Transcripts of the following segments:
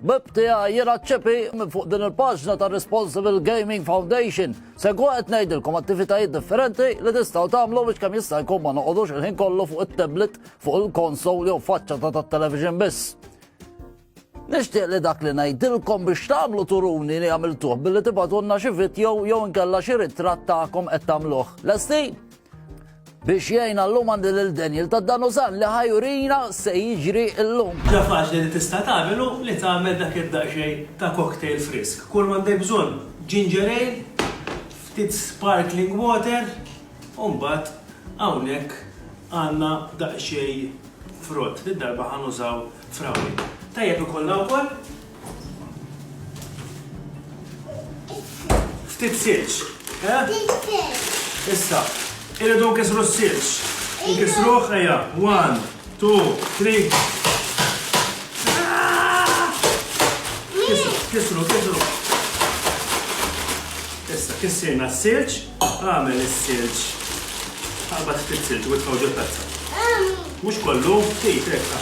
Bib tiegħi jiena ċċepi minn fuq din il-paġna ta' Responsible Gaming Foundation. Segu qed ngħidilkom attivitajiet differenti li tistgħu tagħmlu biex kemm jista' jkun ma noqogħdux il-ħin kollu fuq it-tablet, fuq il-konsol jew faċċa ta' tat-television biss. Nixtieq li dak li ngħidilkom biex tagħmlu turuni li għamiltuh billi tibgħatunna xi video jew inkella xi ritratt tagħkom qed tagħmluh. Lesti? Biex jgħinna llum għandi lil Daniel ta' Danuzan li ħa jurina se jiġri llum. Ħaġa faċli li tista' tagħmel hu li tagħmel dak id-daqsxejn ta' cocktail frisk. Kull m'għandek bżonn, ginger ale, ftit sparkling water u mbagħad hawnhekk għandna daqsxejn frott, did-darba ħa nużaw frawwil. Tajjeb ikollha wkoll Ftit silġ, eh? Issa, irridu nkisru s-silġ. Nkisru ħajja. One, two, three. Kisru, kisru, kisru. Issa, kissirna s-silġ, għamel s-silġ. Għalba ftit silġ, u tħawġu tazza. Mux kollu, ftit, ekka.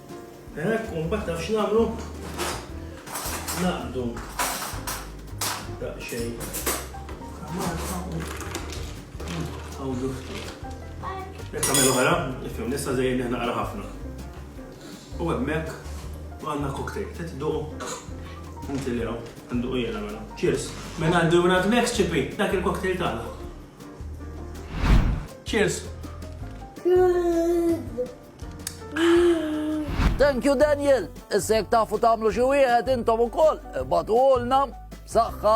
Hekk u mbagħad taf x'nagħmlu? Naqdu daqsxejn. Għawdu ftit. Jekk għamil oħra, nifhem nista' żejjed neħna qara ħafna. U hemmhekk għandna koktejl, trid duq inti li hawn, għandu u jena mela. Cheers. Mela għandu minn għadmek ċipi, dak il-koktejl tagħna. Cheers. Good. Thank you Daniel, issa jekk tafu tagħmlu xi wieħed intom ukoll ibagħtuhulna. B'saħħa.